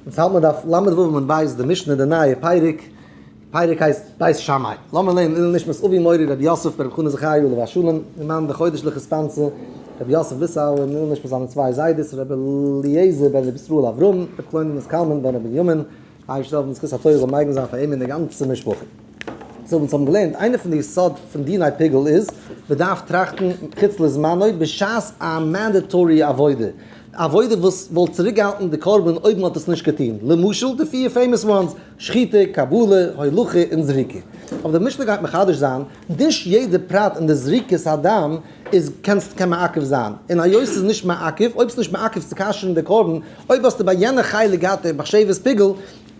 אונז האלט מען דף ל' ו' עמוד ב' די משנה די נייע פרק, די פרק הייסט בית שמאי, לאמיר לערנען לעילוי נשמת אבי מורי רבי יוסף בן רבי חנא זכריה עליו השלום, אין מיין די חודש'ליכע סטאנצע, רבי יוסף וויסאל, און לעילוי נשמת זיינע צוויי זיידעס רבי אליעזר בן רבי ישראל אברהם, רבי קלוימענעס קלמן בן רבי בנימין, ה' ישתבח ווען זכות התורה זאל מגין זיין פאר אים און די גאנצע משפחה. סאו אונז האבן געלערנט, איינע פון די יסוד פון דיני פיגול איז, מען דארף טראכטן מחוץ לזמנו בשעת א מענדעטארי עבודה, א עבודה וואס וואלט צוריקגעהאלטן די קרבן אויב מען האט עס נישט געטון, למשל די פיר פעימאס וואנס, שחיטה, קבלה, הולכה און זריקה. אבער די משנה גייט מחדש זיין, נישט יעדע פרט אין די זריקת הדם איז קענסט קען מעכב זיין, און היות ס'איז נישט מעכב, אויב ס'איז נישט מעכב צו כשר'ן די קרבן, אויב האסטו ביי יענע חלק געהאט די מחשבת פיגול,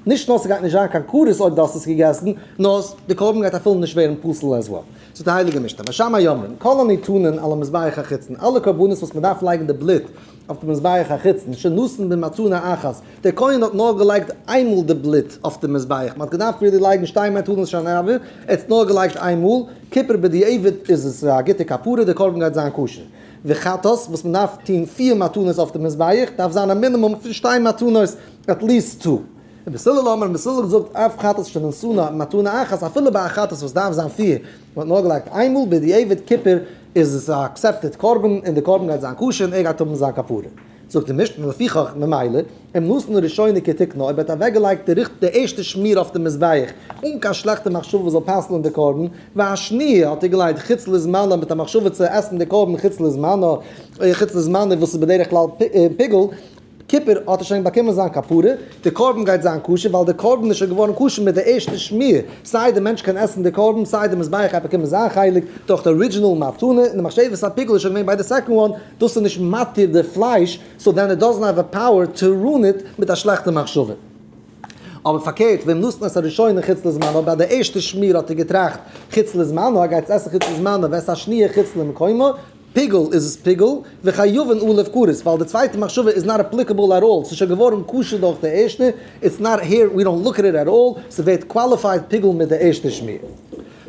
נישט נאר ס'גייט נישט זיין קיין כרת אויב דו האסט עס געגעסן, נאר די קרבן גייט אפילו נישט ווערן פסול עז וועל. צו די הייליגע משתה, ושם יאמרן כל הניתנין על המזבח החיצון, אלע קרבנות וואס מען דארף לייגן די בלוט אויף די מזבח החיצון, שנתן במצונא אחת, דער כהן האט נאר געלייגט איינמאל די בלוט אויף די מזבח, מען האט געדארפט רילי לייגן שתי מתנות שנה הבאה, ער האט עס נאר געלייגט איינמאל, כופר בדיעבד איז עס א גוטע כפרה, די קרבן גייט זיין כשר, וחטאת וואס מען דארף טון פיר מתנות אויף די מזבח, דארף זיין א מינימום פון שתי מתנות עטליסט טו. און רבי סלול האט מיר רבי סלול געזאגט אף חטאת שנשאנה מתנה אחת אפילו ביי א חטאת וואס דארף זיין פיר מען האט נאכגעלייגט איינמאל בדיעבד כיפור איז עס א עקסעפטעד קרבן און די קרבן גייט זיין כשר און ער גייט האבן זיין כפרה זאגט די משנה לפיכך ממילא אם נשאנה ראשונה כתיקנה אויב ער האט אוועקגעלייגט די ריכטיג די ערשטע שמיר אויף די מזבח אן קיין שלעכטע מחשבה וואס זאל פסל'ן די קרבן והשניה האט ער געלייגט חוץ לזמנה מיט א מחשבה צו עסן די קרבן חוץ לזמנה חוץ לזמנה וואס איז בדרך כלל פיגול כיפור האט ער שוין באקומען זיין כפרה, די קרבן גייט זיין כשר, ווייל די קרבן איז שוין געווארן כשר מיט די ערשטע שמיר, סיי די מענטש קען עסן די קרבן, סיי די מזבח גייט באקומען זיין חלק דורך די ארידזשינעל מתנה, און די מחשבת הפיגול איז שוין געווען ביי די סעקאנד וואן, דאס איז נישט מתיר די פלייש, סאו דען איט דאזענט העוו א פאוער טו רואן איט מיט א שלעכטע מחשבה. אבער פארקערט, ווען נתן את הראשונה חוץ לזמנו, ביי די ערשטע שמיר האט ער געטראכט חוץ לזמנו, א גייטס עסן חוץ לזמנו, וועסט השניה חוץ למקומו, פיגול איז עס פיגול, וחייבין א' כרת, ווייל די צווייטע מחשבה איז נאט עפליקעבל עט אלל, ס'איז שוין געווארן כשר דורך די ערשטע, איטס נאט העיר, ווי דאנט לוק עט איט עט אלל, ס'ווערט קוואליפייד פיגול מיט די ערשטע שמיר.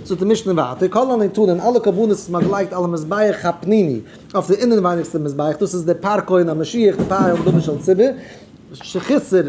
זאגט די משנה ווייטער, כל הניתנין, אלע קרבנות וואס מ'האט געלייגט על המזבח הפנימי, אויף די אינעווייניגסטע מזבח, דאס איז די פאר כהן המשיח, די פאר יום דמים של ציבור, שחיסר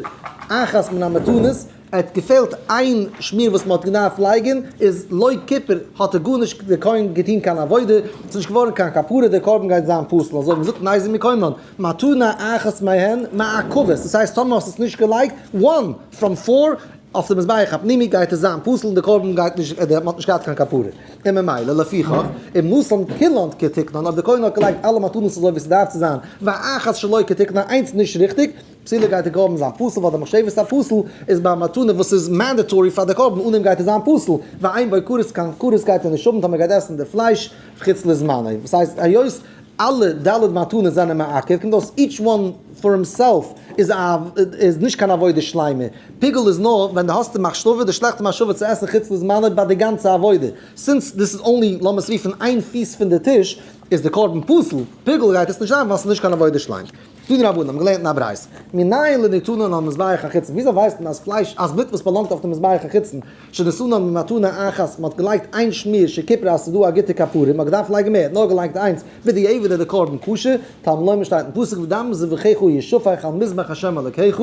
אחת מן המתנות, ער האט געפעלט איין שמיר וואס מען האט געדארפט לייגען, איז לויט קופער האט ער גארנישט דער כהן געטוהן קיין עבודה, ס'איז נישט געווארען קיין כפרה, דער קרבן גייט זיין פסול, אזוי האט מען געזאגט מאז ומקומן, מתנה אחת מהן מעכבת, דאס הייסט טאמער האסט עס נישט געלייגט, one from four, אויף די מזבח הפנימי גייט עס זיין פסול און דער קרבן גייט נישט, מען האט נישט געהאט קיין כפרה, און ממילא לפיכך אם נתן כולן כתקנן אויב דער כהן האט געלייגט אלע מתנות אזוי ווי ס'דארף צו זיין, ואחת שלא כתקנן איינס נישט ריכטיג, פסול'ער גייט ער גראבן זיין פסול ווייל די מחשבת הפסול איז ביי א מתנה וואס איז מענדעטארי פאר די קרבן אן אים גייט ער זיין פסול, ועיין בעוקרות קיין כרת גייט ער נישט האבן טאמער גייט עסן די פלייש חוץ לזמנו, וואס הייסט היות אלע ד' מתנות זענען מעכב קומט אויס איטש וואן פאר הימסעלף איז א איז נישט קיין עבודה שלימה, פיגול איז נאר ווען די האסט די מחשבה די שלעכטע מחשבה צו עסן חוץ לזמנו ביי די גאנצע עבודה, סינס דיס איז אנלי לאמערס רופן איין פיס פון די טיש איז די קרבן פסול, פיגול גייט עס נישט זיין ווייל ס'איז נישט קיין עבודה שלימה. דא די רבנים האבן געלערנט אין א ברייתא, מנין לי נתנה על מזבח החיצון, וויאזוי ווייסט מען אז פלייש, אז בלוט וואס באלאנגט אויף די מזבח החיצון, שנתנה במתנה אחת, מ'האט געלייגט איין שמיר שכיפר אז ס'דא א גוטע כפרה, מ'האט געדארפט לייגן מער, נאר געלייגט איינס, בדיעבד איז די קרבן כשר, תלמי לומר שטייט אין פסוק ודם זבחיך ישפך על מזבח השם אלקיך,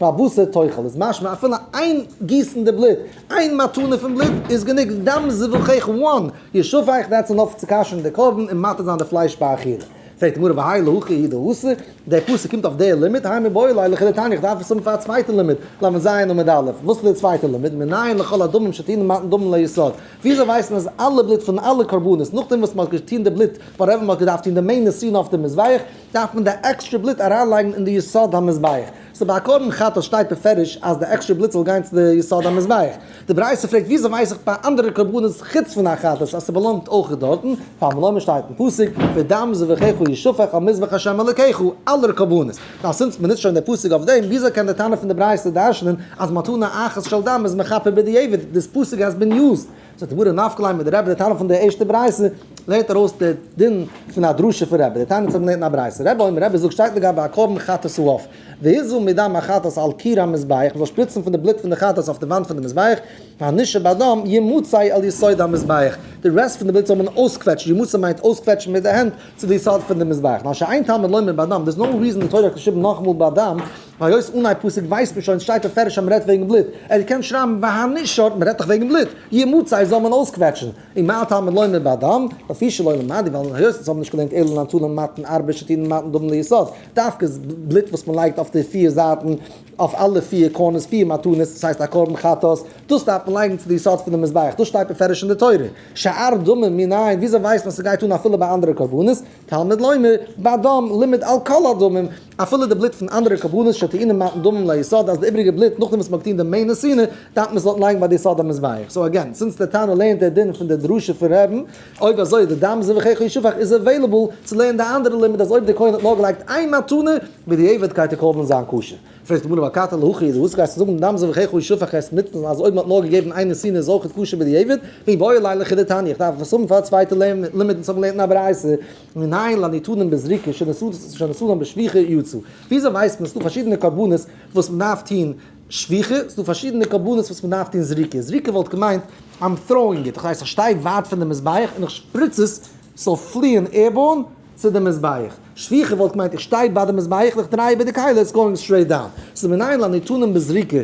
והבשר תאכל, איז משמע אפילו איין גיסן די בלוט, איין מתנה פון בלוט, איז גענוג, דם זבחיך one ישפך, דעטס ענאף צו כשר'ן די קרבן און מטהר זיין די פלייש ביי אכילה. פרעגט די גמרא והאי להכי הידע הוסי', דער פסוק קומט אויף דער לימוד, הא מ בא אלי לכדי תענית, איך דארף עס האבן פאר א צווייטע לימוד, למ ז עמוד א', וואס איז דער צווייטער לימוד, מנין לכל הדמים שתינן מתן דמים ליסוד, וויאזוי ווייסט מען אז אלע בלוט פון אלע קרבנות נאכדעם וואס מען האט געטון די בלוט, וואטעווער מען האט געדארפט טון די מעין נסיון אויף די מזבח, דארף מען די עקסטרע בלוט אריינלייגן אין די יסוד המזבח. סא ביי א קרבן חטאת שטייט בפירוש אז די עקסטרע בלוט זאל גיין צו די יסוד המזבח. די ברייתא פרעגט וויאזוי ווייס איך ביי אנדערע קרבנות חוץ פון א חטאת אז ס'באלאנגט אויך דארטן, פאר מלומד שטייט אין פסוק ודם זבחיך ישפך על מזבח השם אלקיך, אלע קרבנות. נאר סינס מ'נוצט שוין די פסוק אויף דעם, וויאזוי קען די תנא פון די ברייתא דרשנ'ן אז מתנה אחת של דם איז מכפר בדיעבד, דיס פסוק האס בין יוזד ס'האט די גמרא נפק ליה מיט די רבי, די טענה פון די ערשטע ברייתא לערנט ארויס די דין פון א דרשה פון רבי, די תניא האבן געלערנט אין א ברייתא, רבי אומר, רבי זאגט שטייט לגבי א קרבן חטאת אויף, והיזו מדם החטאת על קיר המזבח, מ'זאל שפריצן פון די בלוט פון די חטאת אויף די וואנט פון די מזבח, והנשב הדם ימוצאי על יסוד המזבח, די רעסט פון די בלוט זאל מען אויסקוועטשן, ימוצא מיינט אויסקוועטשן מיט די הענט צו די יסוד פון די מזבח, מה שאין תלמוד לומר בדם, דער איז נאו ריזען די תורה האט געשריבן נאכאמאל בדם. היות אנהייב פסוק ווייסט מען שוין, עס שטייט מפרש אז מען רעדט וועגן בלוט, ער האט געקענט שרייבן והנשאר, מען רעדט דאך וועגן בלוט, יהיה מוצאי זאל מען אויסקוועטשן, און מה התלמיד לומד באדם, לפי שלא למד, ווייל היות אונז האבן נישט געלערנט אלא נטול ומתן ארבע שתין ומתן דומם ליסוד, דווקא איז בלוט וואס מען לייגט אויף די פיר זייטן, אויף אלע פיר קארנערס פיר מתנות, דאס הייסט א קרבן חטאת, דאס דארף מען לייגן צו די יסוד פונעם מזבח, דאס שטייט מפרש אין די תורה, שאר דומם מנין, וויאזוי ווייסט מען אז ס'גייט אן אפילו ביי אנדערע קרבנות? תלמוד לומר, באדם, לימד על כל הדמים, אפילו די בלוט פון אנדערע קרבנות שטעינען מתן דמים ליסוד אז די איבריגע בלוט נאכדעם וואס מ'האט געטון די מעין נסינה דארף מען עס דארט לייגן ביי די יסוד המזבח, סאו עגעין, זינס דער תנא לערנט דער דין פון דער דרשה פון ר' רבן, אויב אזוי איז די דם זבחיך ישפך איז עוועילעבל צו לערנען די אנדערע לימוד אז אויב דער כהן האט נאר געלייגט איין מתנה, בדיעבד גייט די קרבן זיין כשר. פרעגט די גמרא מה קטן להכי איז וואס גייסטו זאגן דאם זאל איך היכי שפך עס נוצן אז אויב מען האט נאר געגעבן איין נסיון איז אויך כשר בדיעבד ווי באו אליי לחי דתני איך דארף עס האבן פאר א צווייטע לימוד אונז האבן געלערנט אין א ברייתא מנין לן יתודם בזריקה שנשאתם בשפיכה יצא וויאזוי ווייסט מען ס'דא פארשידענע קרבנות וואס מען דארף טון שפיכה ס'דא פארשידענע קרבנות וואס מען דארף טון זריקה זריקה וואלט געמיינט איים טראואינג איט איך ווייס איך שטיי ווייט פון די מזבח און איך שפריץ עס זאל פליען עירבארן צו די מזבח. שפיכה וואלט געמיינט איך שטיי ביי די מזבח און איך דריי איבער די כלים, איטס גאוינג סטרעיט דאון. ס'איז מנין לניתנם בזריקה,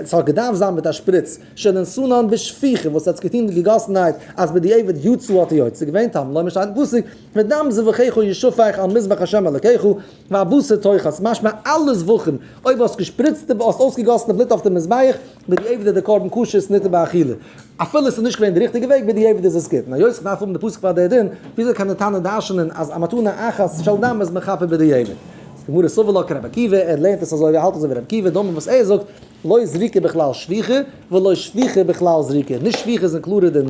ס'האט געדארפט זיין מיט א שפריץ, שננסונן בשפיכה, וואס האטס געטון מיט געגאסנהייט אז בדיעבד יצא האט יוצא געווען, טעם לומר שטייט אין פסוק, ודם זבחיך ישפך על מזבח השם אלקיך, והבשר תאכל, ס'איז משמע אלעס ואכמ, אויב האסט געשפריצט די, האסט אויסגעגאסן די בלוט אויף די מזבח, בדיעבד איז די קרבן כשר ניתן באכילה, אפילו עס איז נישט געווען די ריכטיגע וועג, בדיעבד איז עס גוט, און היות איך דארף האבן די פסוק פאר די דין, וויאזוי קען די תנא דרשנ'ען אז א מתנה אחת של דם איז מכפר בדיעבד? זאגט די גמרא סובר לה כרבי עקיבא, ער לערנט עס אזוי, ער האלט אזוי ווי רבי עקיבא, דאמר וואס ער זאגט, לא זריקה בכלל שפיכה, ולא שפיכה בכלל זריקה, נישט שפיכה איז קלארער דען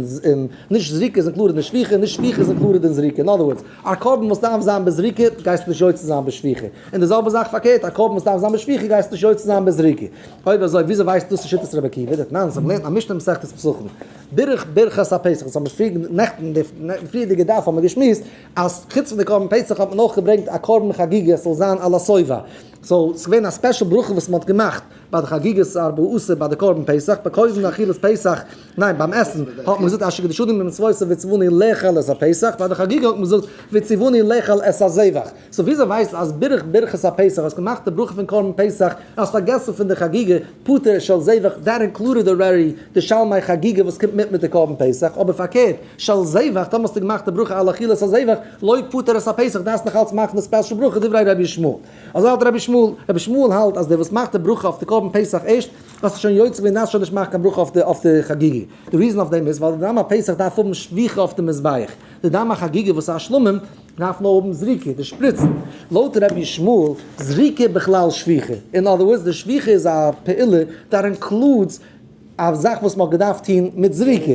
נישט זריקה איז קלארער דען שפיכה, און נישט שפיכה איז קלארער דען זריקה, אין אדער ווארדס, א קרבן וואס דארף זיין בזריקה גייסטו נישט יוצא זיין בשפיכה, און די זעלבע זאך פארקערט, א קרבן וואס דארף זיין בשפיכה גייסטו נישט יוצא זיין בזריקה. אויב אזוי וויאזוי ווייסטו דאס איז שיטת רבי עקיבא? דערט ניין, זיי האבן געלערנט א משנה אין מסכת פסחים, דורך ברכת הפסח, וואס האבן מיר פריער נעכטן אין די פריערדיגע דף האבן מיר געשמועסט, אז חוץ פון די קרבן פסח האט מען אויך געברענגט א קרבן חגיגה עס זאל זיין על הסובב, סאו עס איז געווען א ספעשל ברכה וואס מען האט געמאכט ביי די חגיגת ארבעה עשר ביי די קרבן פסח, ביי קודם אכילת פסח, ניין ביים עסן, האט מען געזאגט אשר קידשני במצוותיו וציווני לאכול את הפסח, ביי די חגיגה האט מען געזאגט וציווני לאכול את הזבח. סאו וויאזוי ווייסטו אז ברך ברכת הפסח, האסט געמאכט די ברכה פון קרבן פסח, און האסט פארגעסן פון די חגיגה, פטור של זבח, דעט אינקלודעד אלרעדי די שלמי חגיגה וואס קומט מיט מיט די קרבן פסח, אבער פארקערט, של זבח, טאמער האסטו געמאכט די ברכה על אכילת הזבח, לויט פטור את הפסח דארפסטו נאך אלץ מאכן די ספעשל ברכה דברי רבי ישמעאל. אזוי האלט רבי ישמעאל. רבי ישמעאל האלט אז דער וואס מאכט די ברכה אויף די קרבן פסח ערשט, האסטו שוין יוצא געווען דארפסט שוין נישט מאכן קיין ברכה אויף די אויף די חגיגה. די ריזען אויף דעם איז ווייל די דם הפסח דארף האבן שפיכה אויף די מזבח. די דם החגיגה וואס איז א שלמים. דארף מען האבן זריקה, די שפריצן, לויט רבי ישמעאל, זריקה בכלל שפיכה, אין אדער ווארדס די שפיכה איז א פעולה דאט אינקלודס א זאך וואס מען האט געדארפט טון מיט זריקה.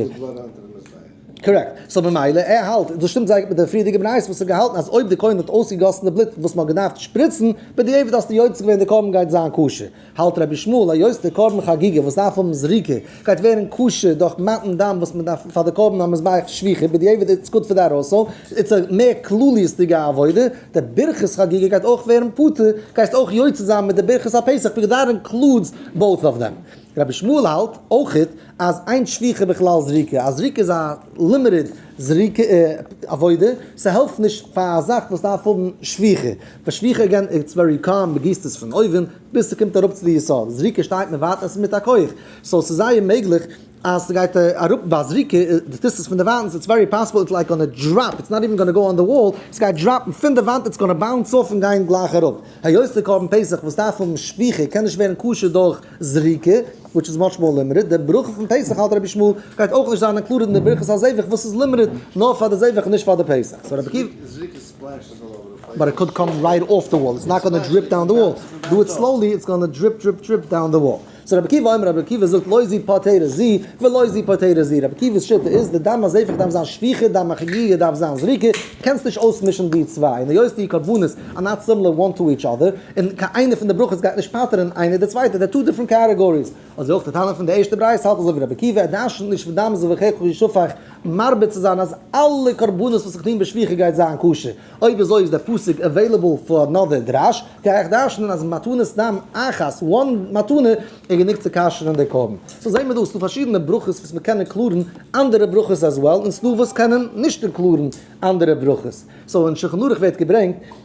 קארעקט. סאו ממילא ער האלט, דאס שטימט זייער גוט מיט די פריערדיגע בית וואס האט געהאלטן אז אויב די כהן האט אויסגעגאסן די בלוט וואס מען האט געדארפט שפריצן, בדיעבד האסטו יוצא געווען די קרבן גייט זיין כשר. האלט רבי שמואל א יוז די קרבן חגיגה וואס דארף האבן זריקה גייט ווערן כשר דורך מתן דם וואס מען דארף פאר די קרבן המזבח שפיכה בדיעבד איטס גוד פאר די ארוסא איטס א מער כלליות'דיגע עבודה די ברכת חגיגה גייט אויך ווערן פטור גייסט אויך יוצא זיין מיט די ברכת הפסח בגדרים קלודס בויט אוו דעם רבי שמואל האלט אויך אז איין שליחה בכלל זריקה, א זריקה איז א לימיטעד זריקה עבודה, ס'העלפט נישט פאר א זאך וואס דארף האבן שליחה, ווייל שליחה אגעין איטס ווערי קאלם, מ'גיסט עס פון אויבן ביז ס'קומט אראפ צו די יסוד, זריקה שטייט מען ווארט עס איז מיט א כח, סאו ס'איז זייער מעגליך אז ס'גייט אראפ ביי זריקה, די טוסט עס פון דערוואנט, איטס ווערי פאסיבל איטס לייק גאנא דראפ, איטס נאט איווען גאנא גאו אן די וואל, ס'גייט דראפן פון די וואנט, איטס גאנא באונס אויף און גיין גלייך אראפ, היות די קרבן פסח וואס דארף האבן שליחה קען נישט ווערן כשר דורך. זריקה, וויטש איז מאטש מאר לימערעד, די ברכה פון פסח האלט רבי שמואל גייט אויך נישט זיין אינקלודעד אין די ברכת הזבח וואס איז לימערעד נאר פאר די זבח און נישט פאר די פסח, סאו רבי עקיבא אומר רבי עקיבא זאגט לא זי פטרה זי ולא זי פטרה זי, רבי עקיבא'ס שיטה איז די דם הזבח דארף זיין שפיכה דם החגיגה דארף זיין זריקה, קענסט נישט אויסמישן די צוויי, און היות די קרבנות אר נאט סימלער וואן טו איטש אדער, און קיין איינע פון די ברכות גייט נישט פטר'ן איינער די צווייטע, דער טו דיפרענט קעטעגאריס. אזוי אויך די טענה פון די ערשטע ברייתא, האלט אזוי ווי רבי עקיבא, ער דרש'נט נישט פון דם זבחיך כל ישפך, מרבה צו זיין אז אלע קרבנות וואס איך טוה מיט שפיכה גייט זיין כשר, אויב אזוי איז דער פסוק עוועילעבל פאר אנאדער דרש, גיי איך דרש'נען אז מתנת דם אחת, וואן מתנה, איז גענוג צו כשר'ן די קרבן. סאו זעהן מיר דא אז ס'דא פארשידענע ברכות וואס מען קען אינקלאדן אנדערע ברכות עז וועל, און ס'דא וואס קענען נישט אינקלאדן אנדערע ברכות. סאו אין שולחן ערוך ווערט געברענגט.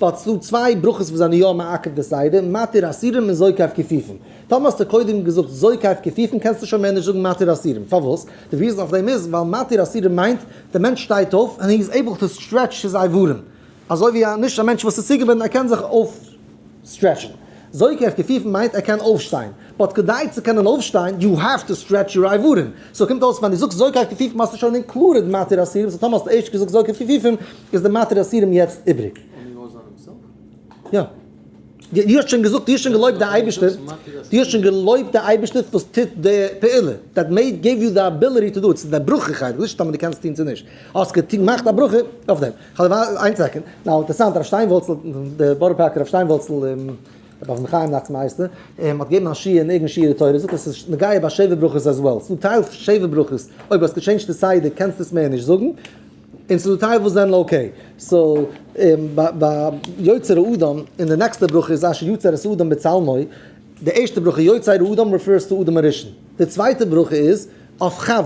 ווייל ס'דא צוויי ברכות וואס זענען יא מעכב די סדר, מתיר אסירים און זורק אויף כפיפים. טאמער האסטו קודם געזאגט זורק אויף כפיפים קענסטו שוין מער נישט זאגן מתיר אסירים. פארוואס? די ריזען אויף דעם איז ווייל מתיר אסירים מיינט די מענטש שטייט אויף און איז עיבל טו סטרעטש צו זיי ווארום אזוי ווי א נישט א מענטש וואס איז צוגעבינדן ער קען זיך אויפסטרעטשן. זורק אויף כפיפים מיינט ער קען אויפשטיין. באט כדי צו קענען אויפשטיין יו העוו טו סטרעטש יור אייברים. סאו קומט אויס ווען דו זאגסט זורק אויף כפיפים האסטו שוין אינקלודעד מתיר אסירים. סאו טאמער האסטו ערשט געזאגט זורק אויף כפיפים איז די מטרת אסירים יעצט איבריג? יא. דו האסט שוין געזאגט, דו האסט שוין געלויבט די אייבערשטער, דו האסט שוין געלויבט די אייבערשטער וואס טוט די פעולה, דעט מעיד געיוו יו די אביליטי טו דו איט, ס'איז די ברכה חלק, נישט טאמער דו קענסט טון צו נישט, האסט געמאכט א ברכה אויף דעם. איין סעקענד, נאו אינטערעסאנט הרב שטיינוואלצל, די בארא פארקער רב שטיינוואלצל, רבי אברהם חיים נאכטס מייסטער, האט געגעבן א שיעור אין איגען שיעורי תורה, זאגט ער ס'איז נוגע ביי שבע ברכות עז וועל, ס'דא טייל שבע ברכות, אויב האסט געטשעינדזשט די סדר קענסטו עס מער נישט זאגן, און צו די טייל וואס זענען אקעי. סאו ביי יוצר האדם אין די נעקסטע ברכה איז אשר יצר את האדם בצלמו, די ערשטע ברכה יוצר האדם ריפערס טו אדם הראשון, די צווייטע ברכה איז אויף חוה,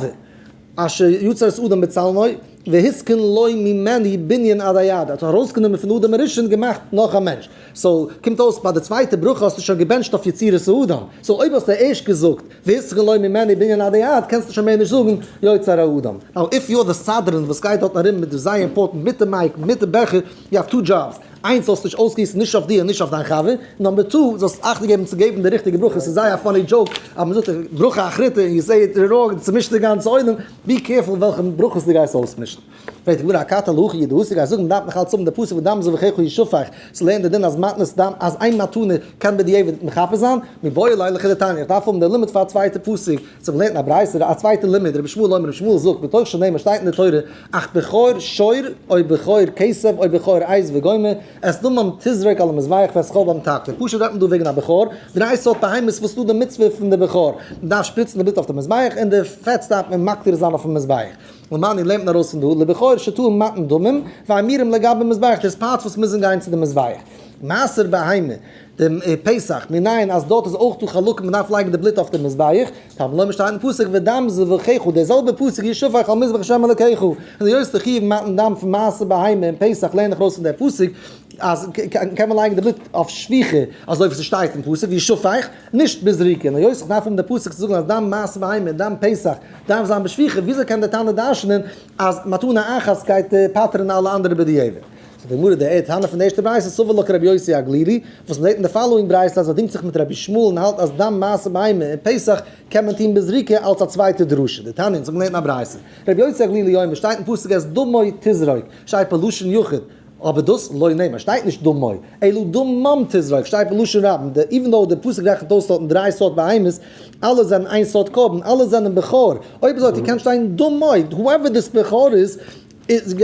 אשר יצר את האדם בצלמו והתקן לו ממנו בנין עד היד, ער האט ארויסגענומען פון אדם הראשון געמאכט נאך א מענטש. סאו קומט אויס ביי די צווייטע ברכה האסטו שוין געבענטשט אויף יצירת האדם, סאו אויב האסטו ערשט געזאגט והיסח לו ממני בענין עדי עד קענסטו שוין מער נישט זאגן יוצר האדם. נאו איף יו אר די סדרן וואס גייט דארטן ארום מיט די זייער אימפארטענט מיט די מייק מיט די בעכער יו האוו טו דזשאבס, איינס זאלסט נישט אויסגיסן נישט אויף דיר און נישט אויף דיין חבר, נאמבער טו זאלסט אכטונג געבן צו געבן די ריכטיגע ברכה, ס'איז זייער א פאני דזשאוק אז מ'זאגט ברכה אחריתה און יו סעי איט ראונג און צומישט די גאנצע עולם, בי קערפול וועלכע ברכות דו גייסט אויסמישן. פרעגט די גמרא הקטן להכי ידע השיג אז זאגן דארף מען נאכאלץ האבן די פסוק ודם זבחיך ישפך, צו לערנען די דין אז מתנת דם אז איין מתנה קען בדיעבד מכפר זיין, מבואי אליי לכי דתניא איך דארף האבן די לימוד פאר א צווייטע פסוק, צו מ'לערנט א ברייתא א צווייטע לימוד רבי שמואל אומר רבי שמואל זאגט מתוך שנאמר שטייט אין די תורה אך בכור שור אוי בכור כסף אוי בכור עז וגומי את דמם תזרוק על המזבח ואת חלבו מתקן, פשוט רעדט מען דא וועגן א בכור, דריי סארט בהמות וואס ס'דא די מצוה פון די בכור, מ'דארף שפריצן די בלוט אויף די מזבח און די פעטס דארף מען מקטיר זיין אויפן מזבח. למען איר לערנט נאר אויס פון דא, לבחור שתול מתן דמים, והאמירים לגבי מזבח, דאס פארט וואס מוזן גיין צו די מזבח, מעשר בהמה, די פסח, מנין אז דארט איז אויך דא חלקים מען דארף לייגן די בלוט אויף די מזבח, טעמא למה שטייט אין פסוק ודם זבחיך, דער זעלבער פסוק ישפך על מזבח השם אלקיך, און היות די חיוב מתן דם פון מעשר בהמה און פסח לערן איך ארויס פון דער פסוק אז קען מען לייגן די בלוט אויף שפיכה אזוי ווי ס'שטייט אין פסוק ישפך, נישט בזריקה, און היות איך דארף האבן די פסוק צו זאגן אז דם מעשר בהמה און דם פסח דארף זיין בשפיכה, וויאזוי קען דער תנא דרשנען אז מתנה אחת גייט פטר'ן אלע אנדערע בדיעבד? זאגט די גמרא, דער טענה פון די ערשטע ברייתא סובר לה כרבי יוסי הגלילי, וואס מ'זעט אין די פאלאואינג ברייתא אז ער דינגט זיך מיט רבי שמואל און האלט אז דם מעשה בהמה און פסח קען מען טון בזריקה אלס א צווייטע דרשה, די תנא, אונז האבן געלערנט אין א ברייתא, רבי יוסי הגלילי אומר, שטייט אין פסוק אז דמוי תזרוק, שייפא לשון יחיד, אבער דאס לא נאמר שטייט נישט דא מוי, אלא דמם תזרוק שטייט בלשון רבים, די איווען דאו די פסוק רעכנט אויס טאטן דריי סארט בהמות, אלע זענען איין סארט קרבן, אלע זענען בכור, אויב אזוי טו קען שטיין דמוי, הואעווער דיס בכור איז,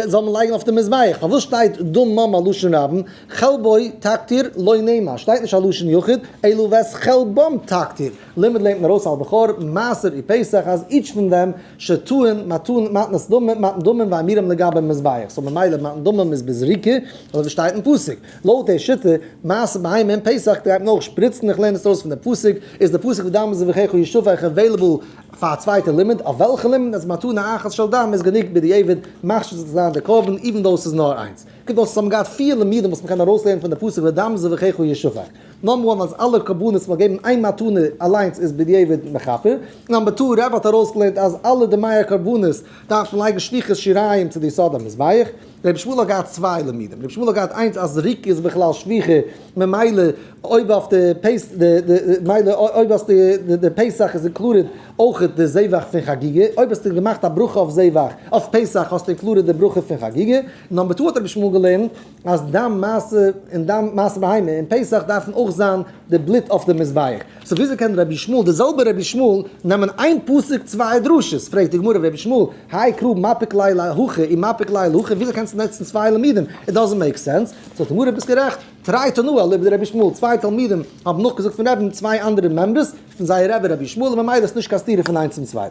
זאל מען לייגן אויף די מזבח, פארוואס שטייט דמם א לשון רבים, חלבו תקטיר לא נאמר שטייט נישט א לשון יחיד, אלא ואת חלבם תקטיר, למד לערנט מען ארויס על בכור, מעשר אי פסח אז איטש פון דעם שטוהן, מתן, מתנת דמים, מתן דמים ואמירם לגבי מזבח, סאו ממילא מתן דמים איז בזריקה, אדער ווי שטייט אין פסוק, לויט די שיטה, מעשה בהמה אין פסח גייט מען אויך שפריצן, איך לערן עס אויס פון די פסוק, איז די פסוק ודם זבחיך ישפך עוועילעבל פאר א צווייטע לימוד, אויף וועלכע לימוד אז מתנה אחת של דם איז גענוג בדיעבד מכשיר זיך צו זיין די קרבן, איווען דאו ס'איז נאר איינס. קומט אויס אז האבן געהאט פיר לימודים וואס מ'קען ארויסלערנען פון די פסוק ודם זבחיך ישפך. נאמבער וואן אז אלע קרבנות מ'האט געגעבן איין מתנה אליינס איז בדיעבד מכפר, נאמבער טו רבי האט ארויסגעלערנט אז אלע די מאה קרבנות דארף מען לייגן שליחת שיריים צו די יסוד המזבח, רבי שמואל האט געהאט צוויי לימודים, רבי שמואל האט געהאט איינס אז ריק איז בכלל שפיכה ממילא אויב אויף די פס ד מילא אויב האסטו די פסח איז אינקלודעד אויכעט די זבח פון חגיגה, אויב האסטו געמאכט א ברכה אויף זבח אויף פסח האסטו אינקלודעד די ברכה פון חגיגה, נאמבער טו האט רבי שמואל געלערנט אז דיין מעשה און דיין מעשה בהמה און פסח דארפן אויך זיין די בלוט אויף די מזבח, סאו וויאזוי קען רבי ישמעאל די זעלבע רבי ישמעאל נעמען איין פסוק צוויי דרשות, פרעגט די גמרא רבי ישמעאל האי קרא מפיק ליה להכה און מפיק ליה להכה וויאזוי קענסטו נוצן צוויי לימודים איט דאזענט מעיק סענס, זאגט די גמרא ביסט גערעכט תראי תנא אליבא דרבי ישמעאל צוויי תלמידים האבן נאכגעזאגט פון רבין צוויי אנדערע מעמבערס פון זייער רבי רבי ישמעאל און ממילא איז נישט קיין סתירה פון איינס און צוויי.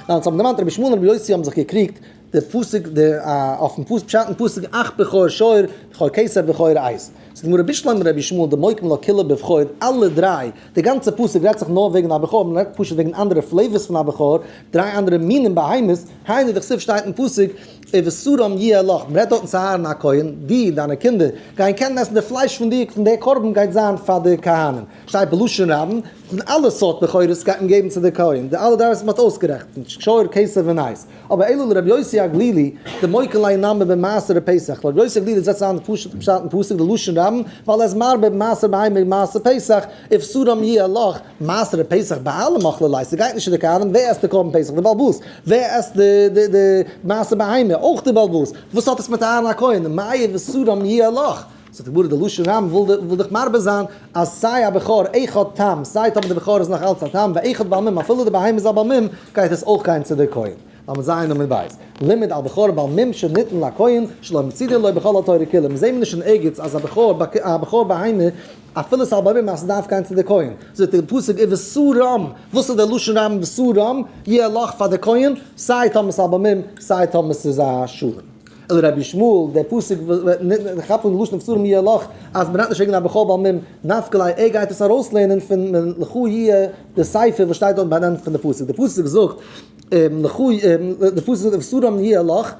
ניין ס'האבן דערמאנט רבי ישמעאל און רבי יוסי האבן זיך געקריגט. דער פסוק דער א אויפן פוס פשט אין פסוק אח בכור שור בכור כסף בכור עז זאגט די גמרא בשלמא מרבי ישמעאל דמוקם לא כולו בבכור אלע דריי די גאנצע פסוק רעדט זיך נאר וועגן א בכור מען רעדט פשוט וועגן אנדערע פלעיווארס פון א בכור דריי אנדערע מינים בהמות היינו דכסוף שטייט אין פסוק ובשרם יהיה לך מען רעדט דארטן צו אהרן הכהן די און דיינע קינדער גייען קענען עסן די פלייש פון די פון די קרבן גייט זיין פאר די כהנים שטייט בלשון רבים פון אלע סארט בכורות גייט מען געבן צו די כהן די אלע דריי וואס מען האט אויסגערעכנט שור כסף און עז. אבער אילו לרבי יוסי הגלילי די מוקל ליה נאמר במעשר די פסח, לרבי יוסי הגלילי זעצט אריין די פשוטע פשט אין פסוק די לשון רבים ווייל ער איז מרבה במעשר בהמה און מעשר פסח, איבסורם יהיה לך, מעשר די פסח ביי אלע מאכלי ליה, ס'גייט נישט צו די קרבן, ווער עסט די קרבן פסח? די באלבאס, ווער עסט די די די מעשר בהמה? אויך די באלבאס, וואס האט עס מיט אהרן הכהן? מאי איבסורם יהיה לך? זאגט די גמרא די לשון רמ ו וויל דיך מרבה זיין אז סיי א בכור עכ האט טעם סיי טאמער די בכור איז נאך אלץ א טעם ועכ האט בעל מום אפילו די בהמה איז א בעל מום גייט עס אויך גיין צו די כהן למ ז עמוד ב' לימד על בכור בעל מום שניתן לכהן שלא מצידין לו בכל התורה כולה מיר זעהן מיר נישט אין ערגעץ אז א בכור א בכור בהמה אפילו עס איז א בעל מום אז עס דארף גיין צו די כהן זאגט די פסוק ובשרו רמ וואס איז די לשון רמ אין בשרו רמ יהיה לך פאר די כהן סיי טאמער עס איז א בעל מום סיי טאמער עס איז א שרון. אלא רבי ישמעאל, דער פסוק וועט כאפן לשון הפסורים יהיה לך, אז מען דארף נישט הענגען א בחור בעל מום, נפק ל, ער גייט עס ארויסלערנען פון לכו יהיה די ספר וואס שטייט דארט ביינענט פון די פסוק, די פסוק זאגט לכו די פסוק זאגט הפסורים יהיה לך,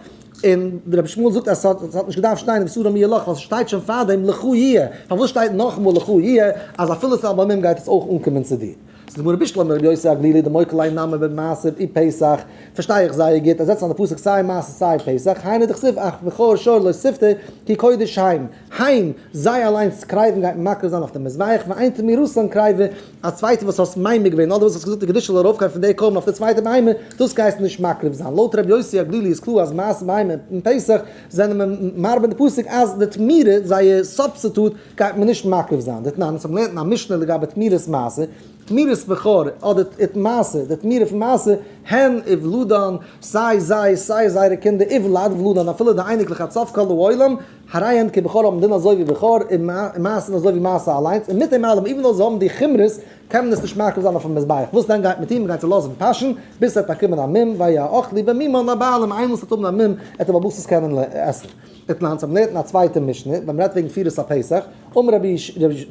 און רבי ישמעאל זאגט אז עס האט נישט געדארפט שטיין הפסורים יהיה לך, ווייל עס שטייט שוין פארדעם לכו יהיה, פארוואס שטייט נאכאמאל לכו יהיה, אז אפילו ס'איז א בעל מום גייט עס אויך אנקומען צו דיר. ס'איז גמרא בישלח מר' יוסי הגלילי דמוי כלי נאמן במעשר אי פסח, פארשטיי איך זייער גוט אז זעצט אן די פסוק סיי מעשר סיי פסח, היינו דכסיב אך בכור שור לא שפתי כי קודש היים, היים, זיי אליינס קרייבן גייט מען מקריב זיין אויף די מזבח ואין תמי ראשון קרייבע, א צווייטע וואס האסט מיימר געווען אדער וואס האסט געזאגט די קדושה זאל ארויפגיין פון די קרבן אויף די צווייטע בהמה, דאס גייסטו נישט מקריב זיין, לויט ר' יוסי הגלילי איז קלאר אז מעשר בהמה און פסח זענען מיר מרבה די פסוק אז די תמירה, זייער סובסטיטוט, גייט מען נישט מקריב זיין, דתנן, אונז האבן געלערנט אין א משנה לגבי תמירת מעשר, תמירת בכור אדער ת ת מעשר, די תמירה פון מעשר, הן איוולדן, סיי זיי סיי זייערע קינדער, איוולד, ולדן, אפילו די אייניקלעך עד סוף כל העולם, הרי הן כבכור האבן דין אזוי ווי בכור, און מעשר אזוי ווי מעשר אליינס, און מיט דעם אלעם, איוון דאו זיי האבן די חומרות, קען מען עס נישט מקריב זיין אויפן מזבח, וואס דען גייט מיט אים, מ'גייט ס'לאזן פאשן ביז ס'עט באקומען א מום, והיה האוכל לי במימון לבעל מום, איינמאל ס'עט האבן א מום עט ער באבוסטעס קענען עסן. איטלאנס האבן לערנט אין א צווייטע משנה ווען מ'רעדט וועגן פירות הפסח, אמר רבי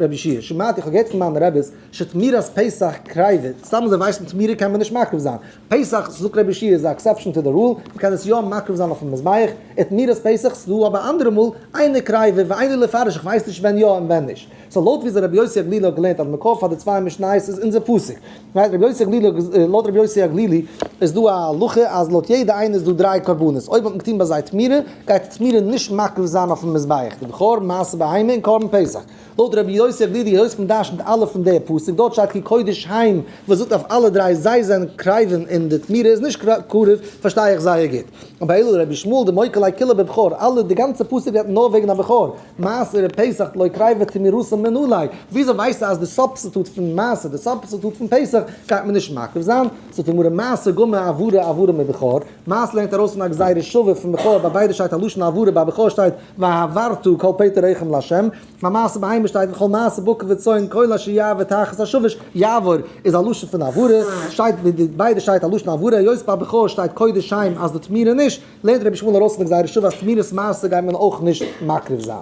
רבי ישעי' שמעתי איך האב געהערט פון מיינע רביס שתמירת פסח קרייוועט, סתם אזוי ווייסן תמירה קען מען נישט מקריב זיין פסח, זאגט רבי ישעי' איז א עקסעפשן טו די רול, מ'קען עס יא מקריב זיין אויפן מזבח, איטמירת פסח ס'דא אבער אנדערע מאל, איינער קרייווע ואיני לפרש איך ווייס נישט ווען יא און ווען נישט. סאו לויט וויאזוי רבי יוסי הגלילי האט געלערנט אז מקור פאר די צוויי משניות איז אונזער פסוק, לויט רבי יוסי הגלילי לויט רבי יוסי הגלילי איז דא א הלכה אז לויט יעדע איינע איז דא דריי קרבנות, אויב האט מען געטון ביי זיי תמירה גייט די תמירה נישט מקריב זיין אויפן מזבח די בכור, מעשר בהמה און קרבן פסח, לויט רבי יוסי הגלילי היות מען דארשט נישט אלע פון די פסוק דארט שטייט כי קודש הם וואס זאגט אויף אלע דריי זיי זענען קרבים און די תמירה איז נישט קרוב פארשטיי איך זייער גוט, אבער אילו רבי שמואל די מוקל עי כולא בבכור אלע די גאנצע פסוק רעדט נאר וועגן א בכור. מעשרה פסח לא קרייבא תמירוסא מנלהי, וויאזוי ווייסטו אז די סובסטיטוט פון מעשר, די סובסטיטוט פון פסח, גייט מען נישט מקריב זיין? זאגט די גמרא מעשר גומר עברה עברה מבכור, מעשר לערנט ארויס פון א גזירה שווה פון בכור, ביי ביידע שטייט א לשון עברה, ביי בכור שטייט והעברת כל פטר רחם לה', ביי מעשר בהמה שטייט וכל מעשר בקר וצאן כל אשר יעבור תחת השבש, יעבור איז א לשון פון עברה, שטייט ביי ביידע שטייט א לשון עברה, היות ביי בכור שטייט קודש שם אז די תמירה נישט, לערנט רבי שמואל ארויס פון גזירה שוה אז תמירות מעשר גייט מען אויך נישט מקריב זיין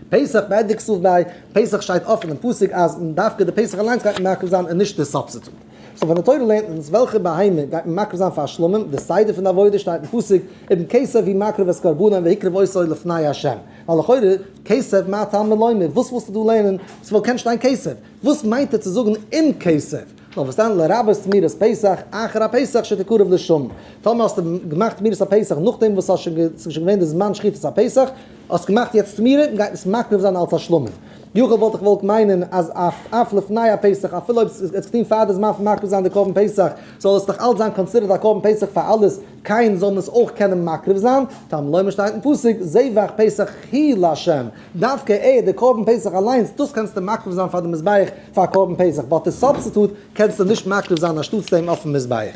פסח מעת דכסוף ביי פסח שטייט אפען אין פסוק אז דווקא די פסח אליינס גייט מען מקריב זיין און נישט די סובסיטוט סאו פון די תורה לערנט אונז וועלכע בהמה גייט מען מקריב זיין פאר שלמים די סדר פון די עבודה שטייט אין פסוק אבן כסף היא מקריבת קרבנן והקריב עושו לפני ה' ווייל לכאורה כסף מה טעם מלומר וואס ווילסטו דא לערנען ס'וואלט קענען שטיין כסף. וואס מיינט ער צו זאגן אום כסף? נאר פארשטאנען לרבות זמירות פסח אחר הפסח שתקרב לשם. טאמער האסטו געמאכט זמירות הפסח נאכדעם וואס ס'איז שוין געווען די זמן שחיטת הפסח, האסט געמאכט יעצט זמירות און גייט עס מקריב זיין אלס השלמה. יכול וואלט איך געוואלט מיינען אז אף לפני הפסח אפילו אויב עס איז געטון פאר די זמן פון מקריב זיין די קרבן פסח זאל עס דאך אלס זיין קאנסידערט א קרבן פסח פאר אלעס קיין זאל מען עס אויך קענען מקריב זיין טעם לומר שטייט אין פסוק זבח פסח היא לה'. דווקא ער, די קרבן פסח אליינס, דאס קענסטו מקריב זיין פאר די מזבח פאר קרבן פסח, באט די סובסטיטוט קענסטו נישט מקריב זיין אנשטאטס דעם אויפן מזבח.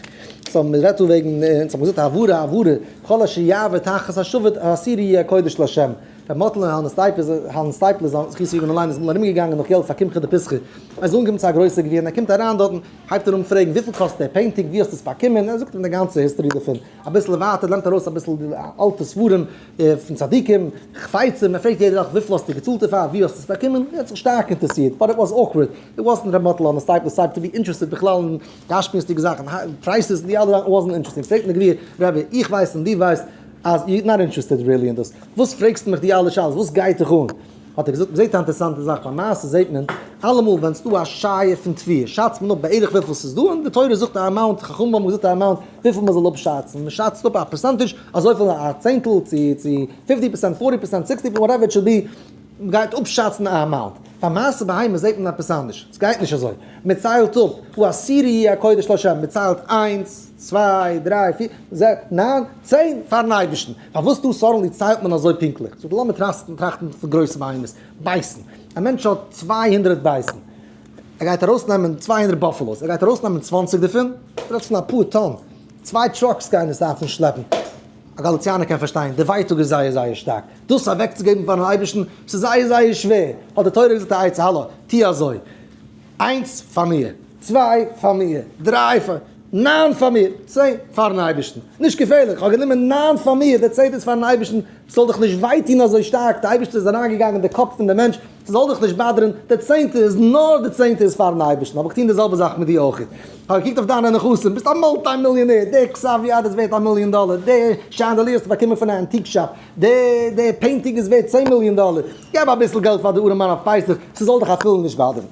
סאו מען רעדט דא וועגן, אונז האבן געזאגט העברה העברה, כל אשר יעבור תחת השבט העשירי יהיה קודש לשם. ר' מאטל און העלמער סטייפלער, העלמער סטייפלער זיי זכותו יגן עלינו איז אמאל ארום געגאנגען נאך געלט פאר קמחא דפסחא, ער איז אנגעקומען צו א גרויסע גביר און ער קומט אריין דארטן, הייבט ער אן פרעגן וויפיל קאסט דער פעינטינג, ווי האסטו עס באקומען, ער זאגט אים די גאנצע היסטארי דערפון, אביסל ווייטער לערנט ער אויס אביסל די אלטע ספרים, פון צדיקים, חפצים, מען פרעגט יעדע וואך וויפיל האסטו געצאלט דערפאר, ווי האסטו עס באקומען, און ער האט זיך שטארק אינטערעסירט, באט איט וואס אוקווארד, איט וואסנט ר' מאטל אן עס טייפ דאס טייפ טו בי אינטערעסטעד בכלל אין גשמיות'דיגע זאכן, פרייסעס און די אלע זאכן, איט וואסנט אינטערעסטינג, פרעגט מען גביר, רבי, איך ווייס און דו ווייסט אז יו נאט אינטערעסטעד ריעלי אין דאס, וואס פרעגסטו מיך די אלע שאלות, וואס גייט דיך אן? האט ער געזאגט, מען זעט א אינטערעסאנטע זאך, ביי מעשה זעט מען, אלעמאל ווען ס'איז דא א שייע פון תביעה, שאצט מען אפ בערך וויפיל ס'איז דא, און די תורה זאגט א אמאונט, חכמים האבן געזאגט א אמאונט, וויפיל מ'זאל אפשאצן, מ'שאצט אפ א פערסענטיזש, אזויפיל א צענטל, צו צו פיפטי פערסענט, פארטי פערסענט, סיקסטי פערסענט, וואטעווער איט שאל בי, מ'גייט אפשאצן א אמאונט. ביי מעשה בהמה זעט מען עפעס אנדערש, ס'גייט נישט אזוי. מ'ציילט אפ, הוא אסיר יהיה הקודש לשם, מ'ציילט איינס, צוויי, דריי, פיר, זע, ניין, צען, פאר'ן אייבערשטן. פארוואס דא סאדענלי ציילט מען אזוי פונקטליך? זאג, לאמיר טראכטן פון גרויסע בהמות, בייסן. א מענטש האט צוויי הונדרעט בייסן. ער גייט ארויסנעמען צוויי הונדערט באפעלאוס, ער גייט ארויסנעמען צוואַנציק דערפון, איך רעד פון אפאר טאן, צוויי טראקס גייען עס דארפן שלעפן, א גאליציאנער קען פארשטיין, די ווייטאג איז זייער זייער שטארק, דאס אוועקצוגעבן פארן אייבערשטן, ס'איז זייער זייער שווער, האט די תורה געזאגט א עצה, האלא, טו אזוי, איינס פאר מיר, צוויי פאר מיר, דריי פאר מיר, ניין פאר מיר, צען פארן אייבערשטן, נישט געפערליך, כ'האב גענומען ניין פאר מיר, די צענטע איז פארן אייבערשטן, ס'זאל דיך נישט וויי טון אזוי שטארק, די אייבערשטער איז אריינגעגאנגען אין די קאפ פון די מענטש, ס'זאל דיך נישט באדערן, די צענטע איז נאר די צענטע איז פארן אייבערשטן, האב איך געטון די זעלבע זאך מיט דיר אויך, כ'האב געקוקט אויף דיינע נכסים, ביסט א מולטי מיליאנער, די קסאוויע האט איז ווערט א מיליאן דאלער, די שאנדעליר האסטו באקומען פון א אנטיק שאפ, די די פעינטינג איז ווערט צען מיליאן דאלער, געב אביסל געלט פאר די ארעמאן אויף פסח, ס'זאל דיך אפילו נישט באדערן.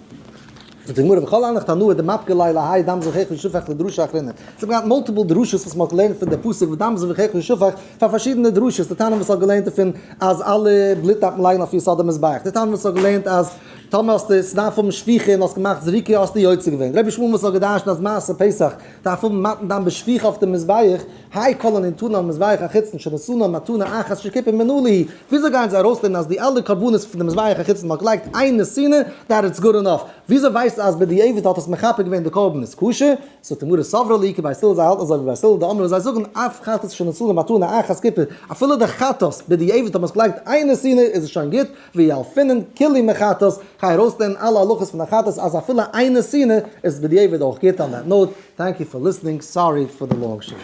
זאגט די גמרא וכל אנחת הנאה דמפקא ליה להאי דם זבחיך ושופך לדרשה אחרינא, זיי האבן געהאט מאלטיפעל דרשות וואס מ'האט געלערנט פון די פסוק ודם זבחיך ושופך פאר פארשידענע דרשות, די תנא וואס האט געלערנט דערפון אז אלע בלוט דארף מען לייגן אויף יסוד המזבח, די תנא וואס האט געלערנט אז טאמער האסטו עס דארף האבן שפיכה און האסט געמאכט זריקה האסטו יוצא געווען, רבי שמואל וואס האט גע'דרש'נט אז מעשה פסח דארף האבן מתן דם בשפיכה אויף די מזבח, היי כל הנתונים על מזבח החיצון שנשאנה מתנה אחת שכיפין מן אלי', וויאזוי גייען זיי ארויסלערנען אז די אלע קרבנות פון די מזבח החיצון וואס מען האט געלייגט איין נשאנה דעט איטס גוד ענאף, וויאזוי ווייסטו אז בדיעבד האט עס מכפר געווען די קרבן איז קשה? זאגט די גמרא סברא לי כי בית הלל זיי האלטן אזוי ווי בית הלל דאמרו זיי זאגן אף חטאת שנשאנה מתנה אחת כיפין אפילו די חטאת בדיעבד האט מען עס געלייגט איין נשאנה איז עס שוין גוט, ויעל פינען כלי מחטאת, גיי ארויסלערנען אלע הלכות פון א חטאת אז אפילו איינע שנאה איז בדיעבד אויך גוט, אן דעט נאוט, טענק יו פאר ליסענינג, סארי פאר די לאנג שיעור.